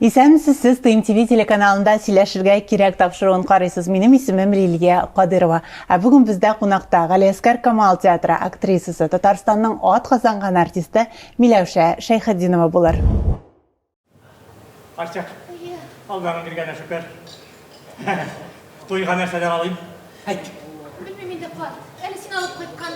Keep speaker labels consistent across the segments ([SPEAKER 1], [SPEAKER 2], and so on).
[SPEAKER 1] Исәнмесез, сез Тыйм ТВ телеканалында Сөйләшергә кирәк тапшыруын карыйсыз. Минем исемем Лилия Кадырова. Ә бүген бездә кунакта Галиәскәр Камал театры актрисасы, Татарстанның ат казанган артисты Миләүшә Шәйхетдинова булыр.
[SPEAKER 2] Ачык. Алланың биргәне шөкер. Туйга нәрсәләр алыйм? Әйт. Белмим инде,
[SPEAKER 3] карт. Әле син алып кайткан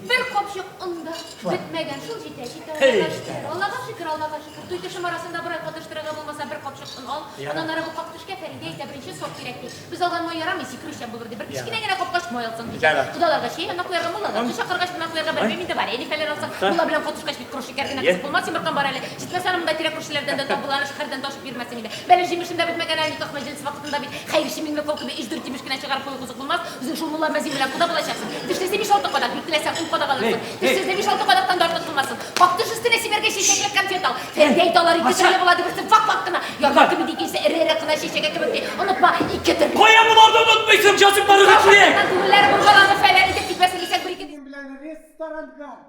[SPEAKER 3] бер капчык онда бетмәгән. Шул җитә, җитә. Аллага шөкер, Аллага шөкер, Аллага шөкер. Туй төшем арасында бер ай катыштырырга булмаса, бер капчык он ал. Аннан ары бу как төшкә Фәридә әйтә, беренче сорт кирәк ди. Без алган май ярамый, сикерүчән булыр ди. Бер кечкенә генә капкачык май алсаң ди. Кодаларга чәй, ана куярга, муллаларны чакыргач, кунак куярга белмим инде, вареникалар алсаң, мулла белән коточкач Кыру шикәр генә кысып булмас, йомыркам бар әле. Җитмәсә, аны монда тирә-күршеләрдән дә табыла, әле шәһәрдән дә ашып йөрмәсең иде. Бәлеш җимешем дә бетмәгән әле, никах мәҗлесе вакытында бит хәерче Миңлекол кебек ич дүрт җимеш кенә чыгарып кую кызык булмас. Үзең шул мулла Мәзин белән кода булачаксың. Тешлесе биш-алты кадак, бик теләсәң, ун кадак алырсың. Тешсезне биш-алты кадактан да артык булмасын. Как теш өстенә сибәргә чәчәкләп конфет ал. Фәрзия әйтә, алар ике төрле була, ди, берсе вак-вак кына, ярма кебек, икенчесе эре-эре кына, чәчәге кебек, ди. Онытма, ике төрле. Кая боларны онытмыйсың,
[SPEAKER 2] җазипларыгыз килә! Күңелләре боргаланып,
[SPEAKER 3] фәлән итеп китмәсен дисәң, бер-ике. Минем белән ресторанга.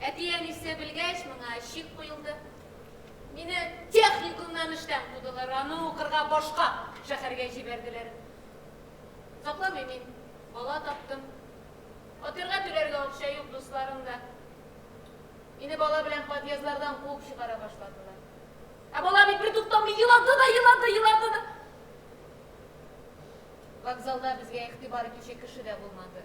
[SPEAKER 3] Әти-әнисе белгәч, моңа чик куелды. Мине техникумнан эштән кудылар, аны укырга башка шәһәргә җибәрделәр. Сакламыйм мин, бала таптым. Фатирга түләргә акча юк, дусларым да. Мине бала белән подъездлардан куып чыгара башладылар. Ә бала бит бертуктамый елады да елады, елады да. Вокзалда безгә игътибар итүче кеше дә булмады.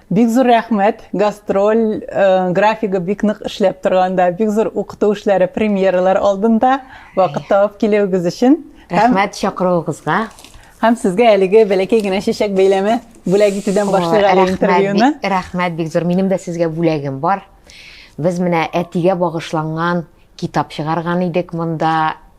[SPEAKER 1] Бик зур рәхмәт, гастроль графигы бик нык эшләп торганда, бик зур укыту эшләре, премьералар алдында вакыт табып килүегез өчен. Рәхмәт
[SPEAKER 4] чакыруыгызга. Һәм сезгә
[SPEAKER 1] әлеге бәләкәй генә чәчәк бәйләме бүләк итүдән башлыйк әле интервьюны. Рәхмәт бик зур. Минем
[SPEAKER 4] дә сезгә бүләгем бар. Без менә әтигә багышланган китап чыгарган идек монда.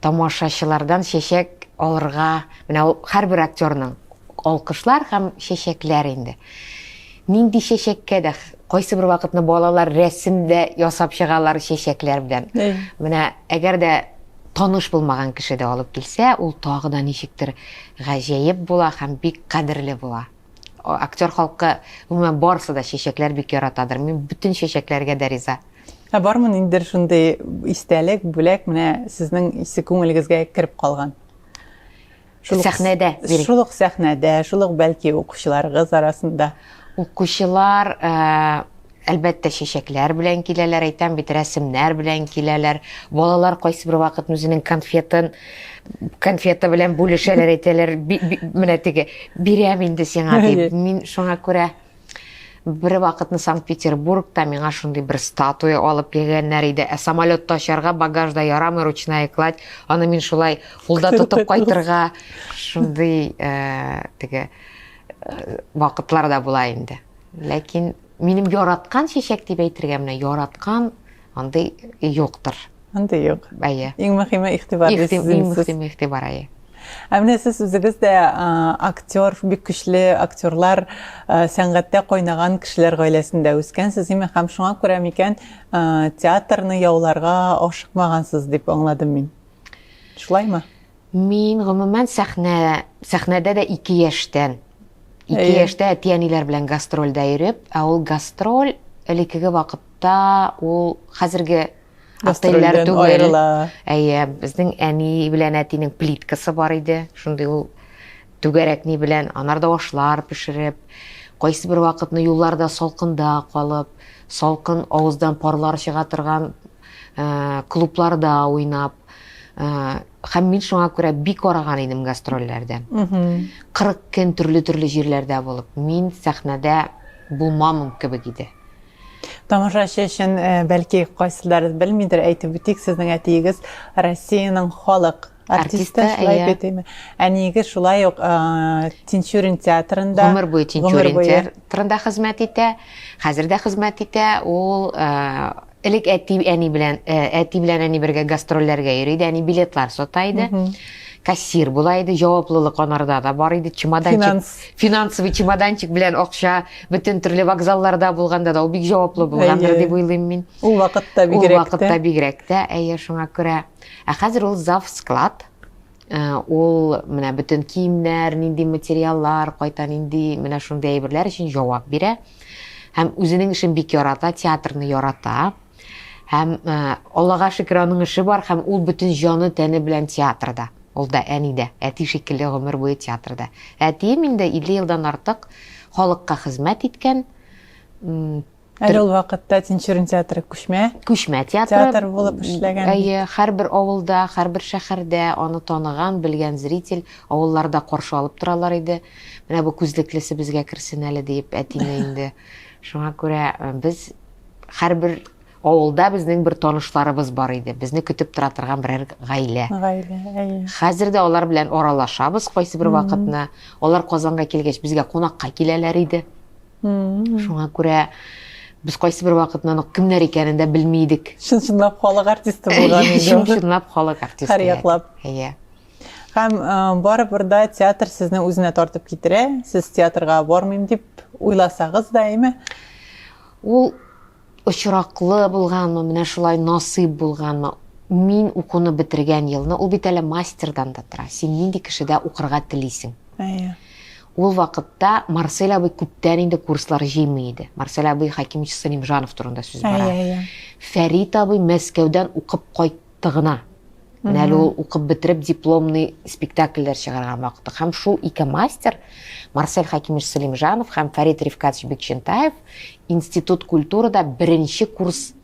[SPEAKER 4] тамашачылардан чәчәк алырга, менә ул һәрбер актерның алкышлар һәм чәчәкләр инде. Нинди чәчәккә дә кайсы бер вакытны балалар рәсем дә ясап чыгалар чәчәкләр белән. Менә әгәр дә таныш булмаган кеше дә алып килсә, ул тагы да ничектер гаҗәеп була һәм бик кадерле була. Актер халкы, гомумән, барысы да чәчәкләр бик яратадыр. Мин бөтен чәчәкләргә дә риза. Ә бармы ниндидер
[SPEAKER 1] шундый истәлек, бүләк менә сезнең исе күңелегезгә кереп калган? Шул сәхнәдә.
[SPEAKER 4] Шул ук сәхнәдә,
[SPEAKER 1] шул ук бәлки укучыларыгыз арасында. Укучылар
[SPEAKER 4] э, Әлбәттә, чәчәкләр белән киләләр, әйтәм бит, рәсемнәр белән киләләр. Балалар кайсыбер вакытны үзенең конфетын, конфета белән бүлешәләр, әйтәләр, менә теге, бирәм инде сиңа, дип. Мин шуңа күрә бер вакытны Санкт-Петербургта миңа шундый бер статуя алып килгәннәр иде. Ә самолетта очарга багажда ярамый ручная кладь. Аны мин шулай кулда тотып кайтырга шундый э, теге э, вакытлар да була инде. Ләкин минем яраткан чәчәк дип әйтергә менә яраткан андый юктыр.
[SPEAKER 1] Андый юк. Әйе. Иң мөһиме игътибар. Иң мөһиме игътибар,
[SPEAKER 4] әйе.
[SPEAKER 1] Ә менә сез үзегез дә актер, бик көчле актерлар, сәнгатьтә кайнаган кешеләр гаиләсендә үскәнсез, име һәм шуңа күрә микән театрны яуларга ашыкмагансыз дип аңладым мин. Шулаймы? Мин,
[SPEAKER 4] гомумән, сәхнә, сәхнәдә дә ике яшьтән. Ике яшьтә әти-әниләр белән гастрольдә йөреп, ә ул гастроль элеккеге вакытта ул хәзерге отельләр түгел. Әйе, безнең әни белән әтинең плиткасы бар иде. Шундый ул түгәрәкни белән анарда ашлар пешереп, кайсы бер вакытны юлларда салкында калып, салкын авыздан парлар чыга торган клубларда уйнап, һәм мин шуңа күрә бик арыган идем гастрольләрдән кырык көн төрле төрле җирләрдә булып мин сәхнәдә булмамын кебек иде тамашачы
[SPEAKER 1] өчен бәлки кайсылар белмидер әйтеп үтик сезнең әтиегез россиянең халык артисты шулай иә. бит әйме әниегез шулай ук тинчурин театрында гомер буе тинчурин
[SPEAKER 4] театрында хезмәт итә хәзер дә хезмәт итә ул Элек әти, әни белән, э, әти белән әни бергә гастрольләргә йөри иде, әни билетлар сата иде. Кассир була иде, җаваплылык анарда да бар иде, чемоданчик, Финанс. финансовый чемоданчик белән акча, бөтен төрле вокзалларда булганда да ул бик җаваплы булгандыр Әйе. дип уйлыйм мин. Ул вакытта Ул бигрәк
[SPEAKER 1] вакытта тә. бигрәк
[SPEAKER 4] тә, әйе, шуңа күрә. Ә хәзер ул зав склад. Ул менә бөтен киемнәр, нинди материаллар, кайта нинди, менә шундый әйберләр өчен җавап бирә. Һәм үзенең эшен бик ярата, театрны ярата. Һәм, Аллага шөкер, аның эше бар һәм ул бөтен җаны, тәне белән театрда. Ул да, әни дә, әти шикелле гомер буе театрда. Әтием инде 50 елдан артык халыкка хезмәт иткән.
[SPEAKER 1] Әле ул вакытта Тинчурин театры күчмә. Күчмә театры. Театр булып эшләгән. Әйе, һәрбер
[SPEAKER 4] авылда, һәрбер шәһәрдә аны таныган, белгән зритель, авылларда каршы алып торалар иде. Менә бу күзлеклесе безгә керсен әле диеп әтине инде. Шуңа күрә э, без һәрбер авылда безнең бер танышларыбыз бар иде. Безне көтеп тора торган берәр гаилә. Гаилә, әйе. Хәзер дә алар белән аралашабыз кайсы бер вакытны. Алар Казанга килгәч, безгә кунакка киләләр иде. Шуңа күрә без кайсы бер вакытнан ук кемнәр икәнен дә белми идек. Чын-чынлап халык
[SPEAKER 1] артисты булган иде. Чын-чынлап халык артисты.
[SPEAKER 4] Һәр яклап. Әйе. Һәм
[SPEAKER 1] барыбер дә театр сезне үзенә тартып китерә. Сез театрга бармыйм дип уйласагыз да, әйме? Ул
[SPEAKER 4] Очраклы булганмы, менә шулай насыйп булганмы, мин укуны бетергән елны, ул бит әле мастердан да тора, син нинди кешедә укырга телисең. Әйе.
[SPEAKER 1] Ул
[SPEAKER 4] вакытта Марсель абый күптән инде курслар җыймый иде. Марсель абый Хәкимович Салимжанов турында сүз бара. Әйе, әйе. Фәрит абый Мәскәүдән укып кайт тыгына. Менә әле ул укып бетереп дипломный спектакльләр чыгарган вакыты. Һәм шул ике мастер, Марсель Хакимович Сулимжанов һәм Фәрит Рифкатович Бекчентаев институт культурада беренче курс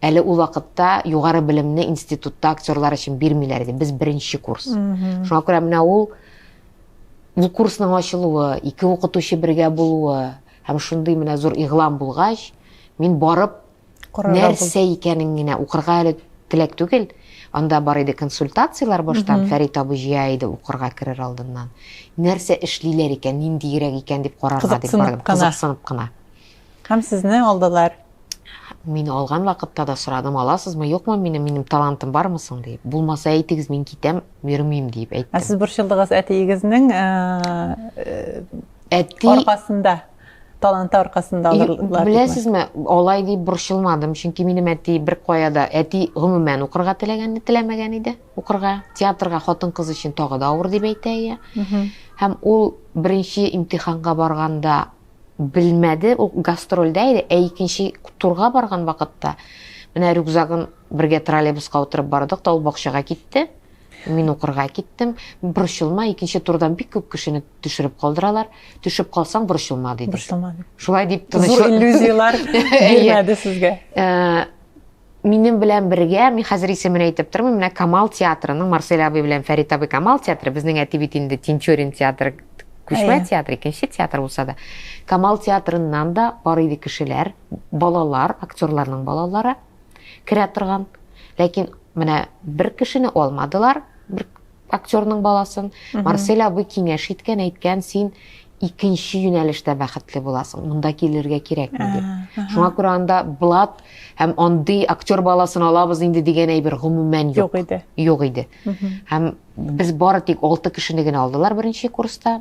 [SPEAKER 4] әле ул вакытта югары белемне институтта актерлар өчен бирмиләр иде. Без беренче курс. Шуңа күрә менә ул бу курсның ачылуы, ике укытучы бергә булуы һәм шундый менә зур игълан булгач, мин барып нәрсә икәнен генә укырга әле теләк түгел. Анда бар иде консультацияләр баштан, Фәрит абый җыя иде укырга керер алдыннан. Нәрсә эшлиләр икән, ниндиерәк икән дип карарга дип бардым, кызыксынып кына. Һәм сезне
[SPEAKER 1] алдылар. Мине
[SPEAKER 4] алган вакытта да сорадым, аласызмы, юкмы минем, минем талантым бармы соң дип. Булмаса әйтегез, мин китәм, йөрмим дип әйттем. Ә сез борчылдыгыз
[SPEAKER 1] әтиегезнең аркасында? таланты аркасында алырлар. Беләсезме, алай
[SPEAKER 4] дип борчылмадым, чөнки минем әти бер кая да, әти гомумән укырга теләгән, теләмәгән иде, укырга, театрга хатын-кыз өчен тагы да авыр дип әйтә ия. Һәм ул беренче имтиханга барганда белмәде, ул гастрольдә иде, ә икенче турга барган вакытта менә рюкзагын Бергә троллейбуска утырып бардык та, ул бакчага китте. Мин укырга киттем. Борчылма, икенче турдан бик күп кешене төшереп калдыралар. Төшеп калсаң, борчылма диде. Борчылма. Шулай дип тыныч. Зур иллюзияләр
[SPEAKER 1] бирмәде сезгә. Э,
[SPEAKER 4] минем белән бергә, мин хәзер исемен әйтеп тормыйм, менә Камал театрының Марсель абый белән Фәрит абый Камал театры, безнең әти бит инде Тинчурин театры, күчмә театр, икенче театр булса да. Камал театрыннан да бар иде кешеләр, балалар, актерларның балалары. керә торган. Ләкин менә бер кешене алмадылар, бер актерның баласын. Марсель абый киңәш иткән, әйткән, син икенче юнәлештә бәхетле буласың. Монда килергә кирәкми дип. Шуңа күрә анда блат һәм андый актер баласын алабыз инде дигән әйбер гомумән юк. Юк иде. Юк иде. Һәм без бары тик 6 кешене генә алдылар беренче курста.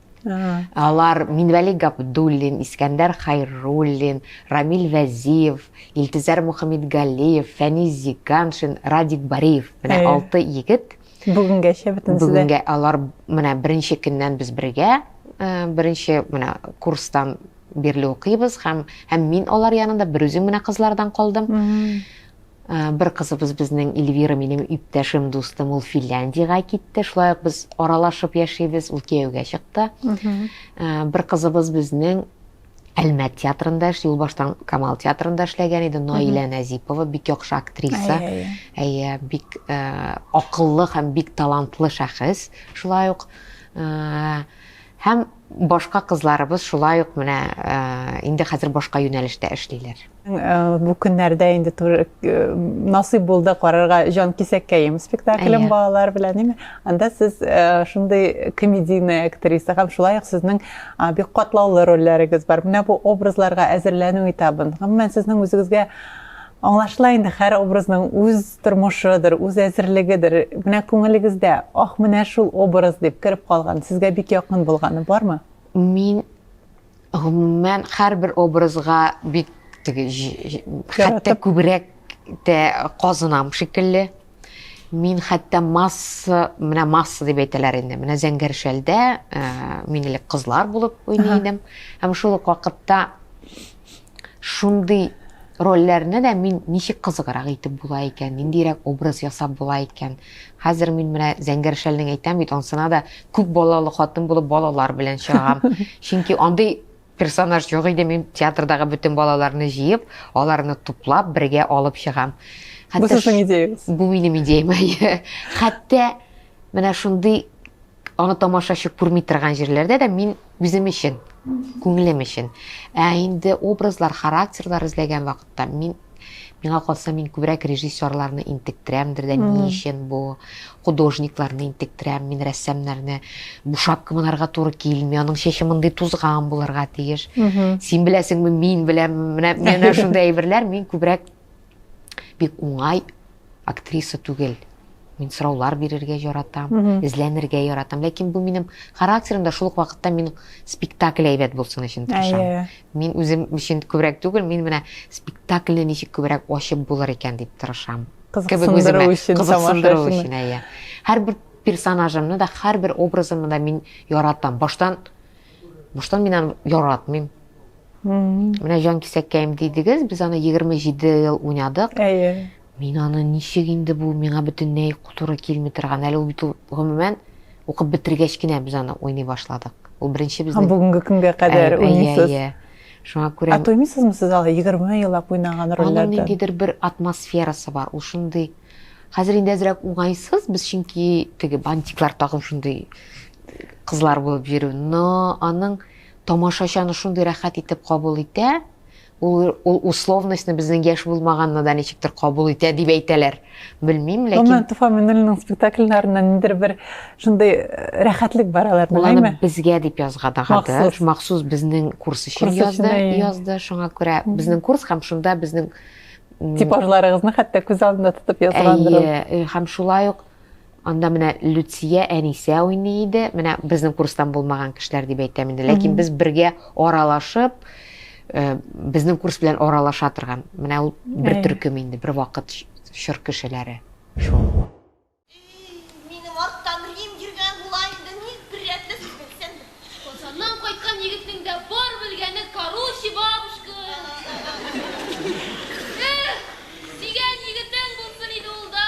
[SPEAKER 4] Алар Минвәли Габдуллин, Искәндәр Хайруллин, Рамил Вәзиев, Илтизәр Мөхәммедгалиев, Фәнис Зиганшин, Радик Бариев. Менә э. алты егет. Бүгенгәчә бөтенесе
[SPEAKER 1] Бүгенгә алар
[SPEAKER 4] менә беренче көннән без бергә, э, беренче менә курстан бирле укыйбыз һәм һәм мин алар янында берүзем менә кызлардан калдым. Бер кызыбыз безнең Эльвира минем иптәшем, дустым, ул Финляндиягә китте. Шулай ук без аралашып яшибез, ул кияүгә чыкты. Бер кызыбыз безнең Әлмәт театрында эш, юлбаштан Камал театрында эшләгән иде, Наилә Нәзипова, бик яхшы актриса. Әйе, бик акыллы һәм бик талантлы шәхес. Шулай ук һәм Башка кызларыбыз шулай ук менә инде хәзер башка юнәлештә эшлиләр. Бу
[SPEAKER 1] көннәрдә инде насыйп булды карарга Җанкисәккәем спектаклен балалар белән, ниме? Анда сез шундый комедийный актриса һәм шулай ук сезнең бик катлаулы рольләрегез бар. Менә бу образларга әзерләнү этабын, гомумән, сезнең үзегезгә аңлашыла инде һәр образның үз тормышыдыр, үз әзерлегедер, менә күңелегездә, ах, менә шул образ дип кереп калган, сезгә бик якын булганы бармы? Мин,
[SPEAKER 4] гомумән, һәрбер образга бик теге, хәтта күбрәк тә казынам шикелле. Мин хәтта масса, менә масса дип әйтәләр инде, менә Зәңгәршәлдә э, мин элек кызлар булып уйный идем. Һәм шул ук вакытта Шундый рольләрне дә мин ничек кызыграк итеп була икән, ниндиерәк образ ясап була икән? Хәзер мин менә Зәңгәр шәлнең әйтәм бит, ансына да күп балалы хатын булып балалар белән чыгам. Чөнки андый персонаж юк иде, мин театрдагы бөтен балаларны җыеп, аларны туплап, бергә алып чыгам. Бу сезнең идеягез?
[SPEAKER 1] Бу минем идеям, әйе.
[SPEAKER 4] Хәтта менә шундый Аны тамашачы күрми торган җирләрдә дә мин үзем өчен, күңелем өчен. Ә инде образлар, характерлар эзләгән вакытта мин миңа калса мин күбрәк режиссерларны интектерәмдер дә ни өчен бу художникларны интектерәм мин рәссамнарны бу шапка монарга туры килми аның чәче мондый тузган булырга тиеш син беләсеңме мин беләм менә менә шундый әйберләр мин күбрәк бик уңай актриса түгел мин сораулар бирергә яратам mm -hmm. эзләнергә яратам ләкин бу минем характерымда шул ук вакытта мин спектакль әйбәт булсын өчен тырышам yeah. мин үзем өчен күбрәк түгел мин менә спектакльне ничек күбрәк ачып булыр икән дип тырышам кызыксындыру
[SPEAKER 1] өчен кызыксындыру өчен әйе
[SPEAKER 4] һәрбер персонажымны да һәрбер образымны да мин яратам баштан Буштан мин аны яратмыйм. Менә җанкисәккәем дидегез, без аны 27 ел уйнадык. Әйе. Мин аны ничек инде бу миңа бөтенләй туры килми торган. Әле ул бит ул гомумән укып бетергәч кенә без аны уйный башладык. Ул беренче безнең. Бүгенге көнгә кадәр
[SPEAKER 1] уйныйсыз. Әйе, әйе. Шуңа күрә.
[SPEAKER 4] Ә тоймыйсызмы сез алы 20
[SPEAKER 1] еллап уйнаган рольләрдән? Аның ниндидер бер
[SPEAKER 4] атмосферасы бар. Ул шундый Хәзер инде әзрәк уңайсыз, без чөнки теге бантиклар тагып шундый кызлар булып йөрү, но аның тамашачаны шундый рәхәт итеп кабул итә, ул, ул условностьны безнең яшь булмаганны да ничектер кабул итә дип әйтәләр. Белмим, ләкин... Гомумән, Туфа Миннуллинның
[SPEAKER 1] спектакльләрендә ниндер бер шундый э, рәхәтлек бар алар, беләме? Ул безгә дип язгадагады.
[SPEAKER 4] Махсус. Махсус безнең курс өчен курс язды, өчен, язды. Шуңа күрә безнең курс һәм шунда безнең типажларыгызны
[SPEAKER 1] хәтта күз алдында тотып язгандыр. Әйе, э, һәм шулай ук
[SPEAKER 4] Анда менә Люция Әнисә уйный иде. Менә безнең курстан булмаган кешеләр дип әйтәм инде. Ләкин без бергә аралашып, э, безнең курс белән аралаша торган. Менә ул бер төркем инде, бер вакыт чор кешеләре. Шул.
[SPEAKER 5] Минем арттан Рим йөргән була инде, ник бер рәтле сүз әйтсәң дә. Казаннан
[SPEAKER 3] кайткан егетнең дә бар белгәне короче, бабушка. Эх, сөйгән егетең булсын иде ул да.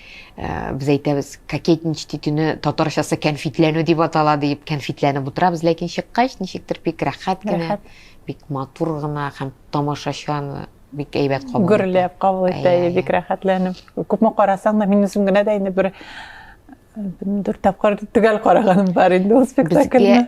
[SPEAKER 4] Э, без әйтәбез кокетнич титүне татарчасы кәнфитләнү дип атала диеп кәнфитләнеп утырабыз ләкин чыккач ничектер бик рәхәт кенә бик матур гына һәм тамашачан бик әйбәт кабул гөрләп кабул итә
[SPEAKER 1] бик рәхәтләнеп күпме карасаң да мин үзем генә дә инде бер дүрт тапкыр төгәл караганым бар инде ул спектакльне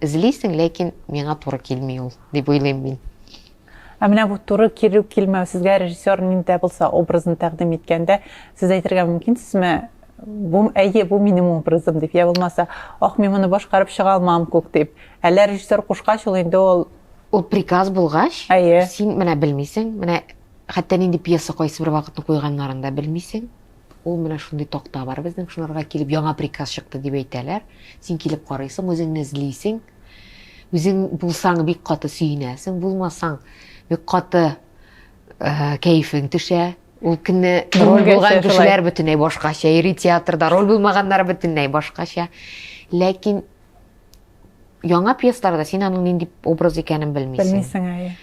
[SPEAKER 4] Эзлисең, ләкин миңа туры килми ул, дип уйлыйм мин. Ә менә
[SPEAKER 1] бу туры килү-килмәү сезгә режиссер нинди дә булса образны тәкъдим иткәндә, сез әйтергә мөмкинсезме, бу әйе, бу минем образым дип, я булмаса, ох, мин моны башкарып чыга алмам күк дип. Әллә режиссер кушкач ул инде ул Ул приказ
[SPEAKER 4] булгач, әйе. син менә белмисең, менә хәтта нинди пьеса кайсы бер вакытны куйганнарын да белмисең. Ул менә шундый такта бар безнең, шуларга килеп яңа приказ чыкты дип әйтәләр. Син килеп карыйсың, үзеңне эзлисең. Үзең булсаң бик каты сөенәсең, булмасаң бик каты кәефең төшә. Ул көнне роль булган кешеләр бөтенләй башкача йөри театрда, роль булмаганнар бөтенләй башкача. Ләкин яңа пьесаларда син аның нинди образ икәнен белмисең. Белмисең, әйе.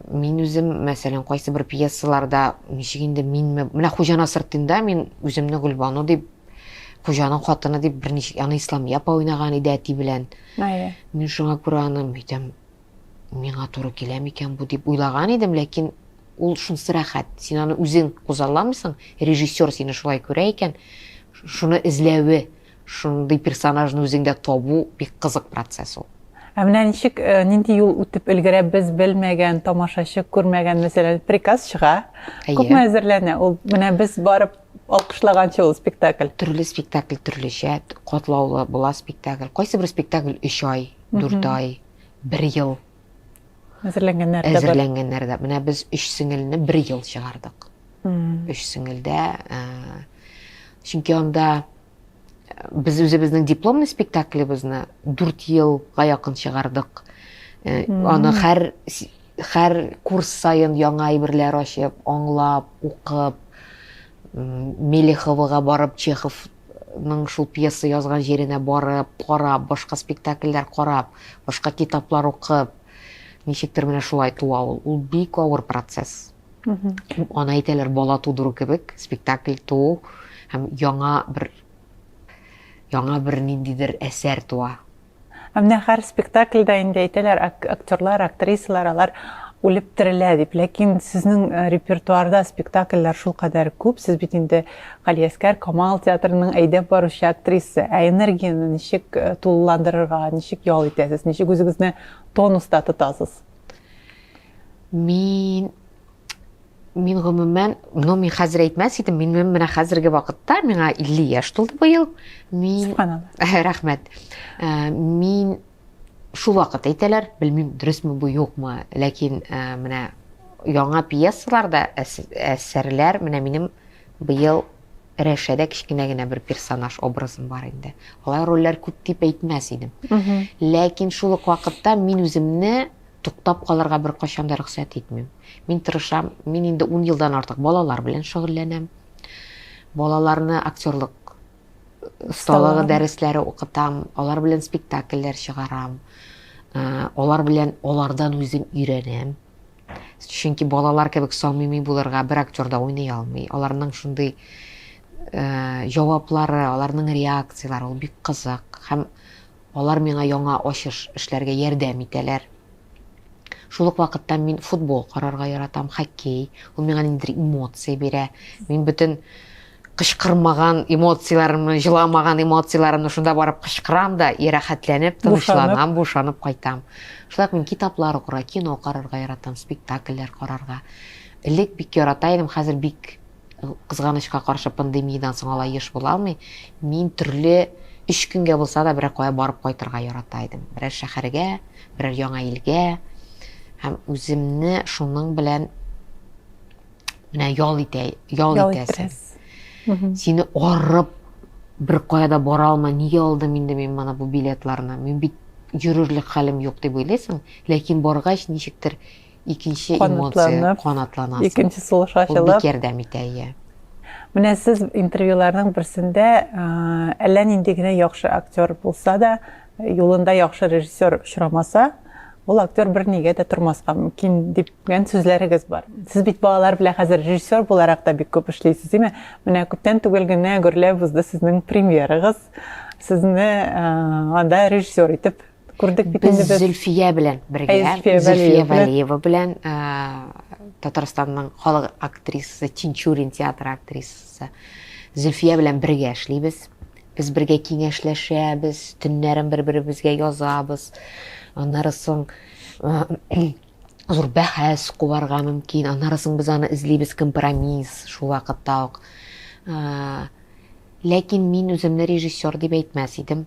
[SPEAKER 4] Мин үзем, мәсәлән, кайсы бер пьесаларда ничек инде минме, менә Хуҗана сыртында мин үземне Гөлбану дип хуҗаның хатыны дип берничә аны ислам япа уйнаган иде әти белән әйе мин шуңа күрә аны әйтәм миңа туры килә микән бу дип уйлаган идем ләкин ул шунысы рәхәт син аны үзең кузалламыйсың режиссер сине шулай күрә икән шуны эзләве Шундый персонажны үзеңдә табу бик кызык процесс ул. Ә менә ничек,
[SPEAKER 1] э, нинди юл үтеп өлгерә без белмәгән, тамашачы күрмәгән, мәсәлән, приказ чыга. Әйе. Күпме әзерләнә? Ул менә без барып алкышлаганчы ул спектакль. Төрле спектакль
[SPEAKER 4] төрлечә, катлаулы була спектакль. Кайсы бер спектакль өч ай, дүрт ай, бер ел. әзерләнгәннәр дә әзерләнгәннәр дә менә без өч сеңелне бер ел чыгардык өч сеңелдә чөнки анда без үзебезнең дипломный спектаклебезне дүрт елга якын чыгардык аны һәр һәр курс саен яңа әйберләр ачып аңлап укып мелеховага барып чехов ның шул пьеса язган җиренә барып, карап, башка спектакльләр карап, башка китаплар укып, ничектер менә шулай туа ул. Ул бик авыр процесс. Аны әйтәләр бала тудыру кебек, спектакль туу һәм яңа бер яңа бер ниндидер әсәр туа. Ә менә һәр
[SPEAKER 1] спектакльдә инде әйтәләр, актерлар, актрисалар алар үлеп терелә дип. Ләкин сезнең э, репертуарда спектакльләр шулкадәр күп, сез бит инде Галиәскәр Камал театрының әйдәп баручы актрисы. Ә энергияне ничек э, тулыландырырга, ничек ял итәсез, ничек үзегезне тонуста тотасыз? Мин
[SPEAKER 4] Мин гомумән, ну мин хәзер әйтмәс идем, мин менә хәзерге вакытта миңа 50 яшь тулды быел. Мин рәхмәт. Э, мин шул вакыт әйтәләр, белмим дөресме бу юкмы, ләкин э, менә яңа пьесаларда әсәрләр менә минем быел Рәшәдә кечкенә генә бер персонаж образым бар инде. Алай рольләр күп дип әйтмәс идем. Ләкин шул ук вакытта мин үземне Туктап калырга беркайчан да рөхсәт итмим. Мин тырышам, мин инде ун елдан артык балалар белән шөгыльләнәм. Балаларны актерлык осталыгы дәресләре укытам, алар белән спектакльләр чыгарам. Э, алар белән алардан үзем өйрәнәм. Чөнки балалар кебек самими булырга бер актер да уйный алмый. Аларның шундый э, җаваплары, аларның реакцияләре ул бик кызык һәм Алар миңа яңа ачыш эшләргә ярдәм итәләр. Шул ук вакытта мин футбол карарга яратам, хоккей. Ул миңа ниндидер эмоция бирә. Мин бөтен кычкырмаган эмоцияләремне, җыламаган эмоцияләремне шунда барып кычкырам да и рәхәтләнеп, тынычланам, бушанып кайтам. Шулай ук мин китаплар укырга, кино карарга яратам, спектакльләр карарга. Элек бик ярата идем, хәзер бик Кызганычка каршы, пандемиядән соң алай еш була алмый. Мин төрле өч көнгә булса да берәр кая барып кайтырга ярата идем. Берәр шәһәргә, берәр яңа илгә. Һәм үземне шуның белән менә ял итә, ял итәсең. Сине арып бер кая да бара алмай, нигә алдым инде мин моны бу билетларны? Мин бит йөрерлек хәлем юк дип уйлыйсың, ләкин баргач ничектер икенче эмоция канатланасың. Икенче сулыш ачылып.
[SPEAKER 1] Ул бик ярдәм итә,
[SPEAKER 4] иә. Менә
[SPEAKER 1] сез интервьюларның берсендә әллә нинди генә яхшы актер булса да, юлында яхшы режиссер очрамаса, ул актер бер нигә дә тормаска мөмкин дигән сүзләрегез бар. Сез бит балалар белән хәзер режиссер буларак та бик күп эшлисез, димме? Менә күптән түгел генә гөрләп узды сезнең премьерагыз. Сезне анда режиссер итеп Күрдек бит инде без. Без Зөлфия белән
[SPEAKER 4] бергә, Зөлфия Валиева белән Татарстанның халык актрисасы, Тинчурин театры актрисасы Зөлфия белән бергә эшлибез. Без бергә киңәшләшәбез, төннәрен бер-беребезгә язабыз. Аннары соң зур бәхәс куарга мөмкин. Аннары соң без аны эзлибез компромисс шул вакытта ук. Ләкин мин үземне режиссер дип әйтмәс идем.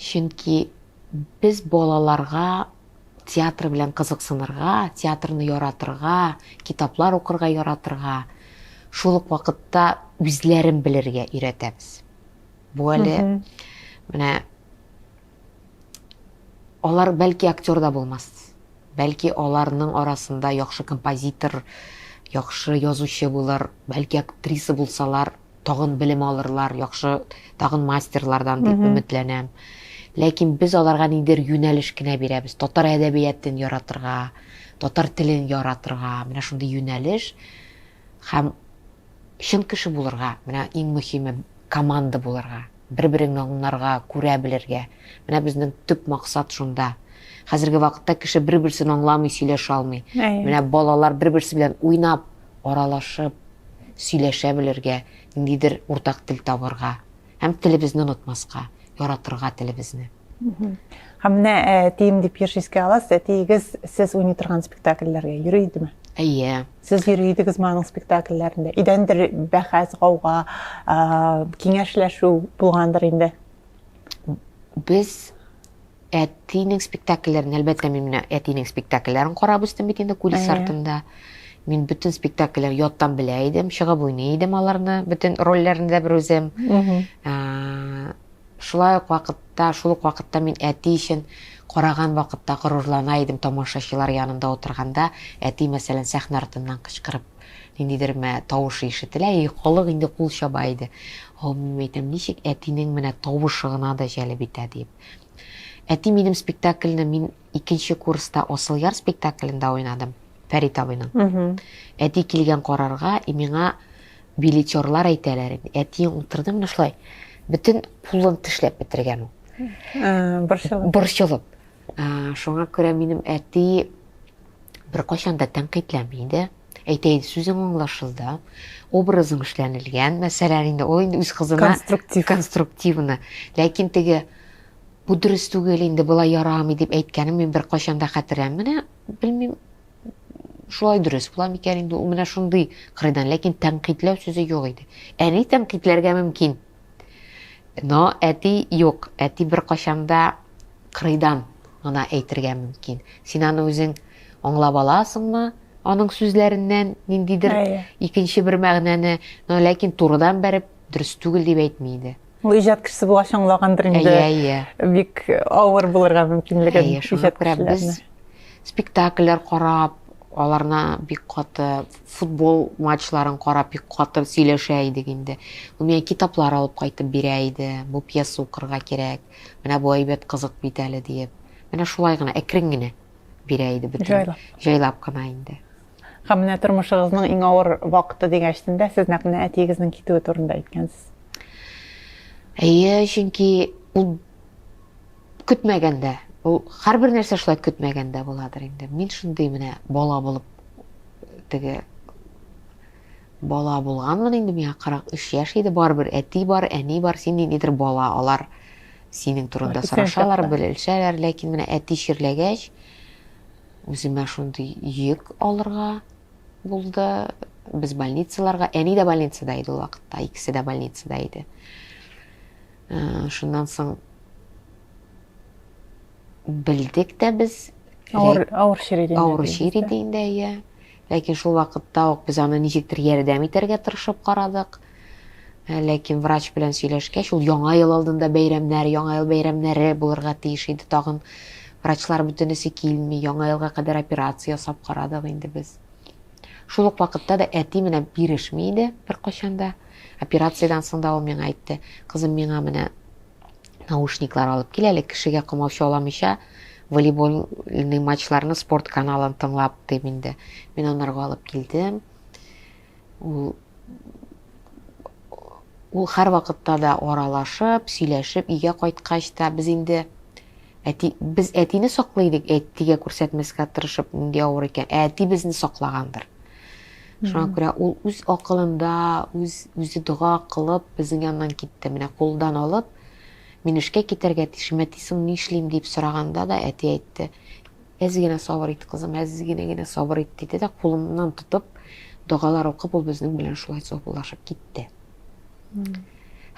[SPEAKER 4] Чөнки без балаларга театр белән кызыксынырга, театрны яратырга, китаплар укырга яратырга, шул ук вакытта үзләрен белергә өйрәтәбез. Бу әле менә алар бәлки актер да булмас. Бәлки аларның арасында яхшы композитор, яхшы язучы булыр, бәлки актриса булсалар, тагын белем алырлар, яхшы тагын мастерлардан дип өметләнәм. Ләкин без аларга ниндидер юнәлеш кенә бирәбез. Татар әдәбиятен яратырга, татар телен яратырга, менә шундый юнәлеш һәм чын кеше булырга, менә иң мөһиме команда булырга, бер-береңне аңларга, күрә белергә. Менә безнең төп максат шунда. Хәзерге вакытта кеше бер-берсен аңламый, сөйләшә алмый. Менә балалар бер-берсе белән уйнап, аралашып, сөйләшә белергә, ниндидер уртак тел табырга һәм телебезне онытмаска, яратырга телебезне. Һәм
[SPEAKER 1] менә әтием дип еш искә аласыз, әтиегез сез уйный торган спектакльләргә йөри идеме? Әйе. Сез
[SPEAKER 4] йөри идегез
[SPEAKER 1] аның спектакльләрендә. Идәндер бәхәс, гауга, киңәшләшү булгандыр инде.
[SPEAKER 4] Без Әтинең спектакльләрен, әлбәттә, мин менә әтинең спектакльләрен карап үстем бит инде кулис Әйе. артында. Мин бөтен спектакльләр яттан белә идем, чыгып уйный идем аларны, бөтен рольләрне дә бер үзем. Мгм. Ә, Шулай ук вакытта, шул ук вакытта мин әти өчен караган вакытта горурлана идем тамашачылар янында утырганда. Әти, мәсәлән, сәхнә артыннан кычкырып ниндидер мә тавышы ишетелә, и халык инде кул чаба иде. О, мин әйтәм, ничек әтинең менә тавышы гына да җәлеп итә диеп. Әти минем спектакльне мин икенче курста Осылъяр спектаклендә уйнадым, Фәрит абыйның. Әти килгән карарга, и миңа билетерлар әйтәләр инде. Әти утырды менә шулай, бөтен кулын тешләп бетергән ул. Борчылып. Борчылып. Шуңа күрә минем әти беркайчан да тәнкыйтьләми иде. әйтәйен сүзең аңлашылды образың эшләнелгән мәсәлән инде ул инде үз кызына конструктив конструктивны ләкин теге бу дөрес түгел инде болай ярамый дип әйткәнен мин беркайчан да хәтерләмим менә белмим шулай дөрес була микән инде ул менә шундый кырыйдан ләкин тәнкыйтьләү сүзе юк иде әни тәнкыйтьләргә мөмкин Но әти юк, әти беркайчан да кырыйдан гына әйтергә мөмкин. Син аны үзең аңлап аласыңмы, аның сүзләреннән ниндидер икенче бер мәгънәне, но ләкин турыдан бәреп дөрес түгел дип әйтми иде. Ул иҗат кешесе булгач
[SPEAKER 1] аңлагандыр инде. Әйе, әйе. Бик авыр булырга мөмкинлеге. Әйе, шуңа күрә без спектакльләр
[SPEAKER 4] карап, аларны бик каты Футбол матчларын карап бик каты сөйләшә идек инде. Ул миңа китаплар алып кайтып бирә иде. Бу пьеса укырга кирәк. Менә бу әйбәт кызык бит әле диеп. Менә шулай гына әкрен генә бирә иде бөтен. Җайлап. Җайлап кына инде. Һәм менә
[SPEAKER 1] тормышыгызның иң авыр вакыты дигәч тендә сез нәкъ менә әтиегезнең китүе турында әйткәнсез. Әйе,
[SPEAKER 4] чөнки ул көтмәгәндә ул һәрбер нәрсә шулай көтмәгәндә буладыр инде мин шундый менә бала булып теге бала булганмын инде миңа 43 яшь иде барыбер әти бар әни бар син ниндидер бала алар синең турында сорашалар белешәләр ләкин менә әти чирләгәч үземә шундый йөк алырга булды без больницаларга әни дә больницада иде ул вакытта икесе дә больницада иде Ә, шуннан соң белдек тә без.
[SPEAKER 1] Авыр, авыр чир иде. Авыр чир иде инде,
[SPEAKER 4] иә. Ләкин шул вакытта ук без аны ничектер ярдәм итәргә тырышып карадык. Ә, ләкин врач белән сөйләшкәч, ул яңа ел алдында бәйрәмнәр, яңа ел бәйрәмнәре булырга тиеш иде тагын. Врачлар бөтенесе килми, яңа елга кадәр операция ясап карадык инде без. Шул ук вакытта да әти менә бирешми иде беркайчан да. Операциядән соң да ул миңа әйтте, Кызым, миңа менә наушниклар алып кил әле, кешегә комаучы аламыйча, волейбольный матчларны спорт каналын тыңлап дим инде. Мин анарга алып килдем. Ул ул һәр вакытта да аралашып, сөйләшеп, өйгә кайткач та без инде әти без әтине саклый идек, әтигә күрсәтмәскә тырышып, нинди авыр икән. Ә әти безне саклагандыр. Шуңа күрә ул үз акылында, үз үзе дога кылып, безнең яннан китте. Менә кулдан алып, мин эшкә китәргә тиешем, әти соң ни эшлим дип сораганда да, әти әйтте, әз генә сабыр ит, кызым, әз генә генә сабыр ит, диде дә, кулымнан тотып, догалар укып, ул безнең белән шулай саубуллашып китте.